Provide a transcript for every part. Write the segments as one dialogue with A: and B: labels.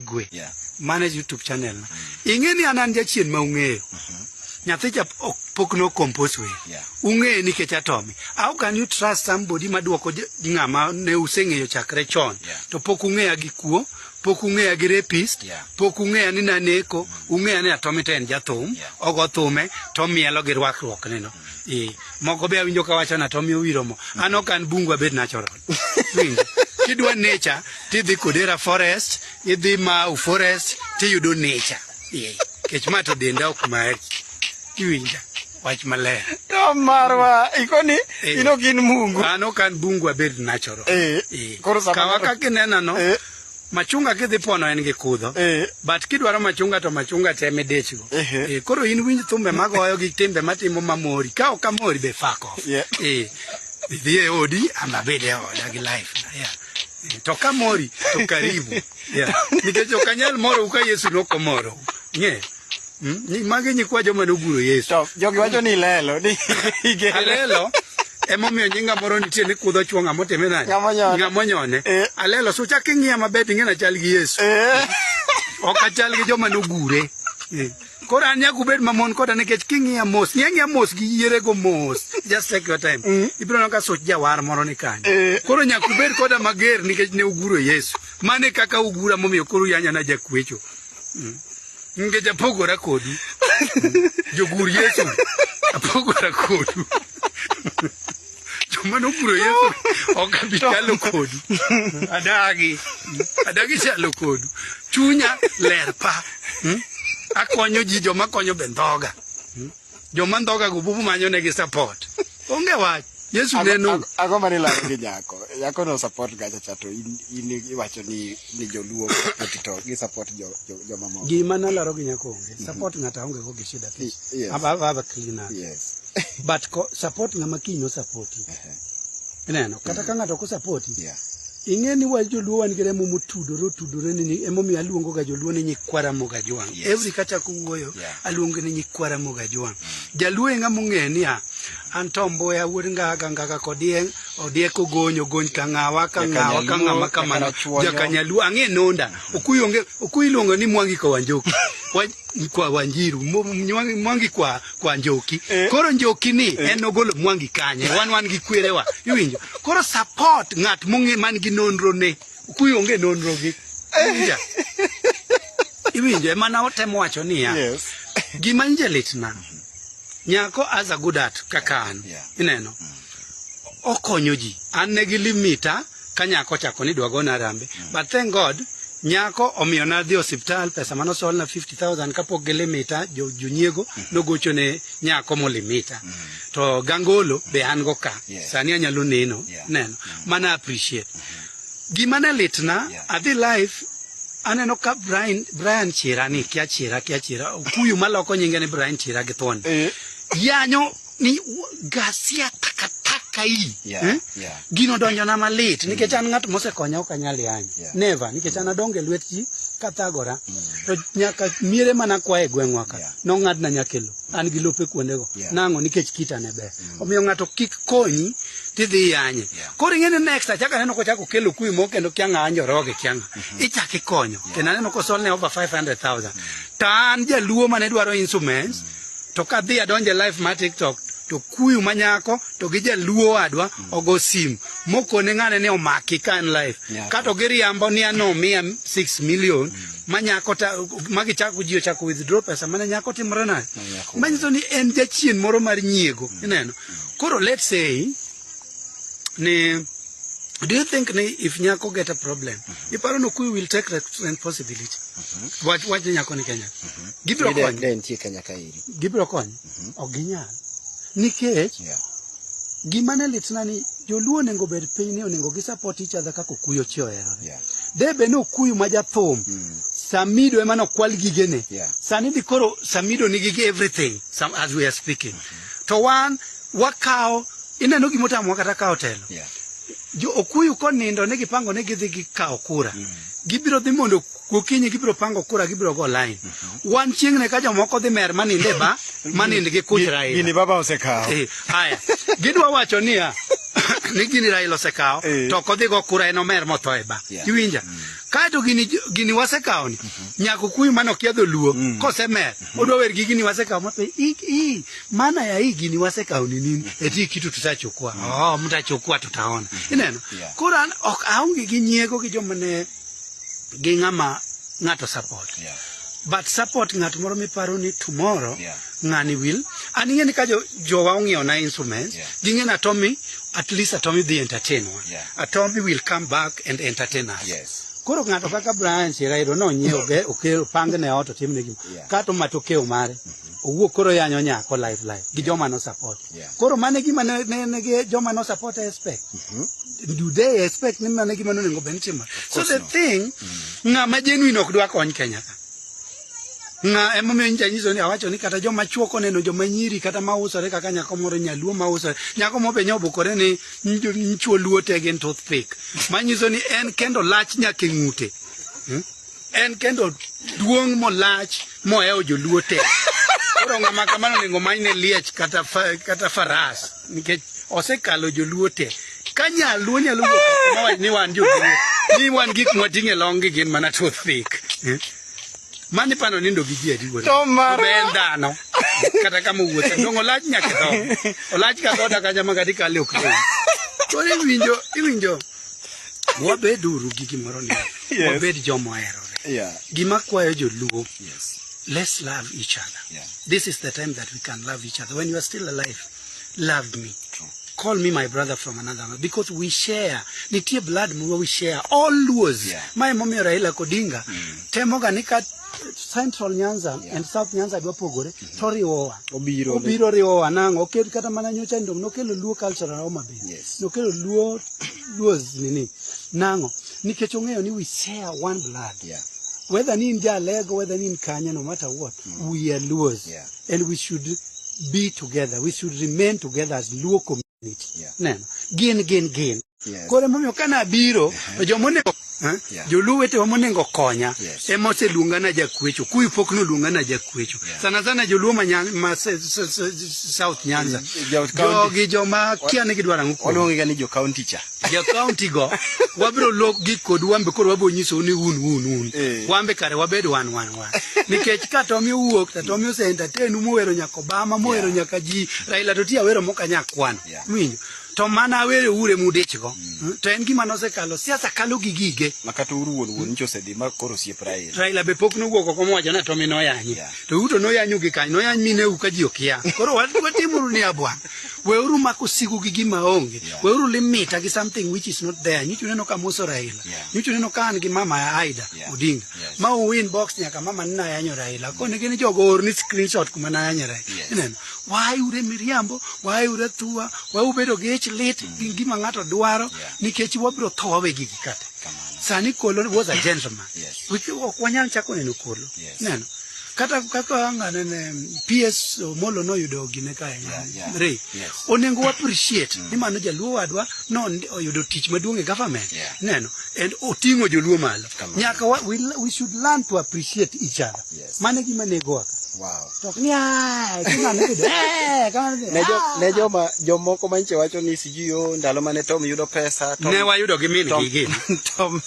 A: Igwe. Yeah. Mano e YouTube channel na. Ing'e ni an an jachien ma ung'eyo. Nyathi cha ok pok no compose we. Yeah. Ung'e nikech atomi. How can you trust somebody ma duoko je- ng'ama ne useng'eyo chakre chon Yeah. to pok ung'eya gi kuo, pok ung'eya gi rapist, Yeah. pok ung'eya ni naneko, ung'eya ni atomi to en jathum, Yeah. ogo thume to mielo gi rwakruokne no. Eh, moko be awinjo ka wacho na atomi owiro mo. An ok an bungu abed natural. Hmm. Kidwa nature tidhi Kodera forest, idhi Mau forest tiyudo nature. Yeah. Kech ma to denda ok mari. Iwinja wach maler. To marwa
B: ikoni eh. ino gin mungu. Ano kan bungu abed
A: natural. Eh. eh. Koro sama
B: kaka inena
A: no. Eh. machunga kidhi pono en gi kudho eh. but kidwaro machunga to machunga te midechgo eh. eh, koro in winj thumbe magoyo gi timbe matimo mamori ka ok amori be fako yeah. eh, idhi e odi ama bed e oda gi life yeah. Eh, to kamori to karibu yeah. nikech ok anyal moro u ka yesu nokomoro ng'e yeah. Hmm? Magi nyikwa joma noguro Yesu. To jogi wacho ni
B: lelo ni igere. Alelo
A: emomiyo nyinga moro nitie ni kudho chwo ng'ama otime nani? Ng'ama onyone. Eh. Alelo so chak ing'iya maber ting'e na chal gi Yesu. Eh. Ok achal gi joma nogure. Eh. Koro an nyaka ubed mamon koda nikech king'iya mos, ng'iya ng'iya mos gi yiere go mos. Just take your time. Mm. Ibiro neno ka soch jawar moro ni kanyo. Eh. Koro nyaka ubed koda mager nikech ne uguro Yesu. Mane kaka ugura momiyo koro yanya na jakwecho. Ngeja apogora kodu. Jogur Yesu apogora kodu. Joma noguro Yesu ok abi chalo kodu. Adagi. Adagi chalo kodu. Chunya ler pa. Hmm? Akonyo ji joma konyo bendhoga. Joma ndhoga go bubu manyo ne gi support. Onge wach. Yesu neno. Ago mani la gi
B: nyako. Nyako no support ga cha to in in iwacho ni ni joluo to gi support jo jo mamo. Gi mana laro gi nyako
A: onge. Mhm. Support ngata onge go gi shida. Yes. Aba aba cleaner. Yes.
B: But ko
A: support ngama kinyo support. Uh -huh. Ineno kata ka mhm. ng'ato ko support. Yeah. Ing'e ni waj joluo wan gi remo motudore otudore ni ni- emomiyo aluongo ga joluo ni nyikwa Ramogi Ajwang'. Yes. Every kachako wuoyo Yeah. aluongo ni nyikwa Ramogi Ajwang'. Jaluo eng'a mong'e niya an to Mbuya wuod Ngaga Ngaga kodieng' odieko gonyo gony ka ng'awa ka ng'awa ka ng'ama kamano Jakachuonyo. jakanyaluo ang'e nonda okuyi onge okuyi iluongo ni Mwangi Kawanjoki Wa- kwa Wanjiru Mo- Mwangi kwa kwa njoki eh. koro njoki ni eh. en ogolo mwangi kanye wan wan gi kwerewa iwinjo koro support ng'at mong'e man gi nonro ne kuyo onge nonro gi eh. iwinjo ema na otemo wacho niya yes. gima nje litna nyako as a good art kaka an yeah. ineno mm. okonyo ji an ne gi limita ka nyako ochako ni dwa gona rambe mm. but thank god nyako omiyo na dhi osiptal pesa mano sol na 50000 kapok gi limita jo junyiego mm. nogocho ne nyako mo limita mm. to gangolo be an go ka yes. sani anyalo neno yeah. neno mm. mana appreciate mm -hmm. gima ne litna yeah. adhi life aneno ka Brian Brian Chira ni kia Chira kia Chira kuyu maloko nyinge ni Brian Chira githon eh. yanyo ni u- gasia takataka hii Yeah, eh? yeah. gino donjona malit nikech an ng'at mosekonya ok anyal yany Yeah. neva nikech an adonge e lwet ji kathagora to nyaka miere mana kwa e gweng'wa ka Yeah. nong'adna nyakelo an gi lope kuondego Yeah. nang'o nikech kita ne ber omiyo ng'ato kik konyi tidhi yanye Yeah. koro ing'e ni next achaka neno kochako kelo kuwi moko kendo kianga anjoroge kianga ichak ikonyo kendo aneno kosolne over 500000 to an jaluo mane dwaro instruments to kadhi adonje live ma tiktok to kuyu manyako to gi jaluo wadwa mm. ogo simu mokone ng'ane ni omaki ka en live yeah. kato giriambo ni ano miya 6 million mm. manyako ta magi chako ji ochako withdraw pesa mane nyako timre na manyiso ni en jachien moro mar nyiego mm. ineno koro let's say ni do you think ni if nyako get a problem mm -hmm. iparo no kui will take responsibility mm -hmm. wach wach nyako ni Kenya mm -hmm. gibiro kony den tie Kenya ka iri
B: gibiro kony mm -hmm.
A: ok ginyal nikech yeah. gima ne litna ni joluo onego bed piny ni onego gi support each other kaka okuyo chi ohero yeah. debe ni okuyu ma jathum mm -hmm. Samido ema no kwal gigene yeah. sani dikoro Samido nigi everything some as we are speaking mm -hmm. to wan wakawo ineno gima otamowa kata kawo telo Yeah. jo okuyu konindo ne gipango ne gidhi gikawo kura gibiro dhi mondo gokinyi gibiro pango kura gibiro go line wan chieng'ne ka jomoko dhi mer manind e ba manind gi kuch Gini raila
B: baba
A: osekawo. Eh, haya gidwa wacho niya ni gini raila osekawo Eh. to ok odhi go kura en omer motho e ba Yeah. iwinja kaeto gini gini wasekawoni nyako kuyu mane okiadho luo kosemer Odwa wer gigi ni wasekawo mape i, i maana ya hii gini wasekawo ni nini? Eti hii kitu tutachukua. Oh, mtachukua tutaona. Ineno. Yeah. Koro an ok aonge gi nyiego gi joma ne gi ng'ama ng'ato support. Yeah. But support ng'at moro miparo ni tomorrow Yeah. ng'ani will. An ing'e ni ka jo, jowa ong'iewo na instruments, Yeah. ging'e na Tommy at least Atomi dhi entertain wa. Yeah. Atomi will come back and entertain us. Yes. Koro ng'ato kaka Brian Chirairo nonyiewo ge okelo pange ne ot otimne gima Yeah. kato matokeo mare owuok koro yanyo nyako live live gi joma no support. Yeah. Koro mane gima ne, ne, ne gi joma no support expect. Do they expect ni mane gima nonego bed ni timore? So course the not. thing ng'ama genuine ok dwa kony Kenya ka. Ng'a emomiyo nyicha nyiso ni awacho ni kata joma chuo koneno joma nyiri kata ma usore kaka nyako moro nyaluo ma usore nyako mo be nyobukore ni nyicho luo te gin tooth pick ma nyiso ni en kendo lach nyake ng'ute hmm? en kendo duong' molach mohewo joluo te koro ng'ama kamano onego manyne liech kata, fa, kata faras nikech osekalo joluo te ka nyaluo nyalo wuok ni wan joluo ni wan gik mwating'e long' gi gin mana tooth pick hmm? Mani pano nindo gi ji adi wuoda. To mar. Be en dhano. Kata kama wuotho. Dongo lach nyaka dho. Olach ka goda ka jama kati kale ok dhi. Koro iwinjo, iwinjo. Wabed uru gi gimoro ni. Yes. Wabed joma oherore. Yeah. Gima kwayo joluo. Yes. Let's love each other. Yeah. This is the time that we can love each other. When you are still alive, loved me. True. Call me my brother from another mother because we share. Nitie blood mwa we share. All Luos. Yeah. Mae momiyo Raila Kodinga mm. temoga ni ka Central Nyanza yeah. and South Nyanza dwa pogore mm -hmm. to riwowa. Obiro. Obiro riwowa nang'o. Okel kata mana nyocha ndom nokelo Luo culture na Homa Bay. Yes. Nokelo Luo Luo nini. Nang'o. Nikech ong'eyo ni we share one blood. Yeah. Whether ni in Jalego, whether ni in Kanya, no matter what, mm. we are Luos. Yeah. and we should be together we should remain together as luo community yeah. neno gin gin gin yes. koro emomiyo kane abiro uh -huh. jomonego huh? yeah. joluo wetewa monego konya yes. ema oseluonga na jakwecho kuyi pok noluonga na jakwecho yeah. sana sana joluo ma, nyan, ma se, se, se, south nyanza jogi joma kia ni gidwaro ang'o kuom oluongiga ni jo county
B: cha jo county go
A: wabiro lok gik kodu wambe koro wabiro nyisou ni un un un Eh. wambe kare wabed wan wan wan nikech ka tomi owuok to tomi ose entertain muwero nyaka obama muwero Yeah. nyaka ji raila to ti awero moka nya kwano Yeah. winjo to mana awere ure mudich go to en gima nosekalo siasa kalo gi gige ma kata uru wuon wuon
B: nyicha osedhi ma koro osiep Raila. Raila be pok nowuok
A: oko mowacho ni Tommy noyanyi. Yeah. To uto noyanyu gi kany, noyany mineu ka ji okia. Koro wat- watimuru ni abwa. weuru mako sigu gi gima onge yeah. weuru limita gi something which is not there nyichu neno ka moso raila yeah. nyichu neno ka an gi mama ya aida yeah. odinga yes. ma uwin box nyaka mama nina yanyo raila mm. kone gini jogo orni screenshot kuma na yanyo raila yes. ineno why ure miriambo why ure thua why ubedo gi ich lit mm. gi gima ng'ato dwaro yeah. nikech wabiro tho wawe gigi kate sani kolo was a gentleman yes. ok wanyal chako neno kolo yeah. Neno. Kata kaka angane ne PS Omolo noyudo gine kae. Yeah, yeah. Re. Yes. Onengo appreciate mm. ni mano jaluo wadwa no oyudo tich maduong' e government. Yeah. Neno. And otingo joluo malo. Nyaka wa, we, we should learn to appreciate each other. Yes. Mane gima nego aka. Wow. Tok ni ai, kama ne bido. Eh, kama
B: ne. Ne jo ah. ne jo ma jo moko manche wacho ni siji o ndalo mane Tom yudo pesa. Tom, ne wayudo gi min gi
A: gi. Tom.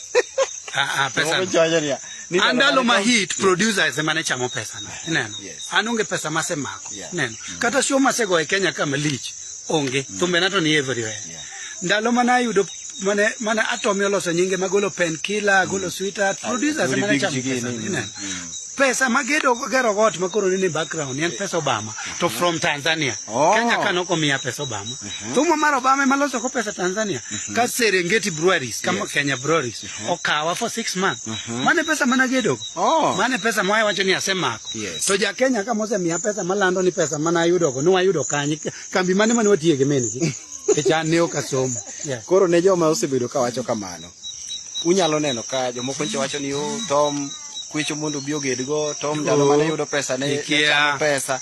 B: Ah ah pesa.
A: Tom jojo ni. andalo ma hit producer yes. emane chamo pesa no ineno yes. an onge pesa masemako yeah. ineno mm. kata show masego e Kenya kama lich onge mm. thumbe nato ni everywhere yeah. ndalo mana ayudo mane mane atomi oloso nyinge magolo pen killer mm. golo sweetheart ah, producers emane chamo pesa no ineno mm. pesa magedo gero got makoro ni background en pesa Obama to mm-hmm. from Tanzania oh. Kenya kano komia pesa Obama mm -hmm. thumo mar Obama emaloso ko pesa Tanzania mm -hmm. ka Serengeti breweries kama yes. Kenya breweries Huh? okawa for six months uh mhm. -huh. mane pesa mana gedo oh. mane pesa mwaye wacho ni asemako yes. to ja Kenya kama osemiya pesa malando ni pesa mana ayudo go niwayudo kanye kambi mane mane watiye gi min gi echan ne ok asomo yeah. koro ne joma
B: osebedo ka wacho kamano unyalo neno ka jomoko nche wacho ni o oh, tom kwecho mondo obi ogedgo tom ndalo mane yudo pesa ne, ne pesa